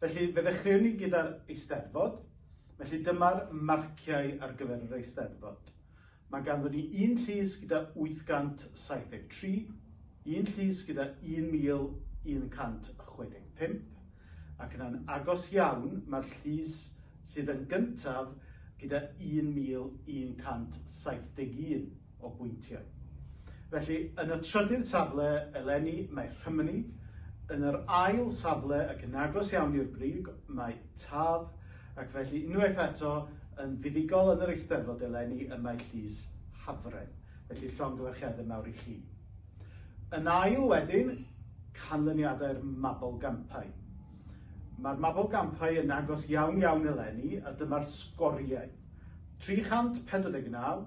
Felly, fe ddechreuwn ni gyda'r Eisteddfod. Felly, dyma'r marciau ar gyfer yr Eisteddfod. Mae ganddon ni un llys gyda 873, un llys gyda 1165, ac yna'n agos iawn mae'r llys sydd yn gyntaf gyda 1171. o bwyntiau. Felly, yn y trydydd safle eleni mae Rhymni, yn yr ail safle ac yn agos iawn i'r brig mae Taf, ac felly unwaith eto yn fuddugol yn yr Eisteddfod eleni y mae Llys Hafren. Felly llongyfarchiadau mawr i chi. Yn ail wedyn, canlyniadau'r Mabolgampau. Mae'r Mabolgampau yn agos iawn iawn eleni a dyma'r sgoriau. 349,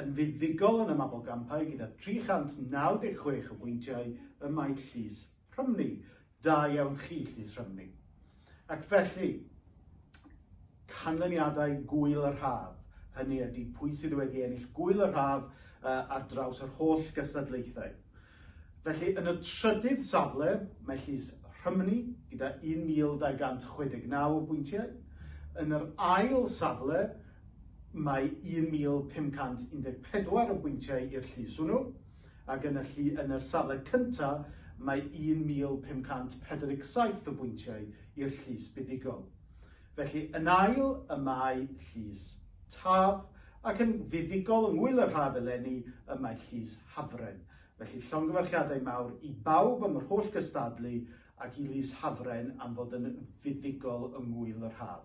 yn fuddugol yn y mabolgampau gyda 396 o bwyntiau ym Maes Llys Rhymni. Da iawn chi, Llys Rhymni. Ac felly, canlyniadau gwyl yr haf, hynny ydy pwy sydd wedi ennill gwyl yr haf uh, ar draws yr holl gystadlaethau. Felly, yn y trydydd safle, mae Llys Rhymni gyda 1,269 o bwyntiau. Yn yr ail safle, mae 1,514 o bwyntiau i'r llys hwnnw, ac yn y llu, yn yr safle cynta, mae 1,547 o bwyntiau i'r llys buddugol. Felly, yn ail y mae Llys Taf, ac yn fuddugol yng ngŵyl yr haf eleni y mae Llys Hafren. Felly llongyfarchiadau mawr i bawb am yr holl gystadlu ac i Lys Hafren am fod yn fuddugol yng Ngŵyl yr Haf.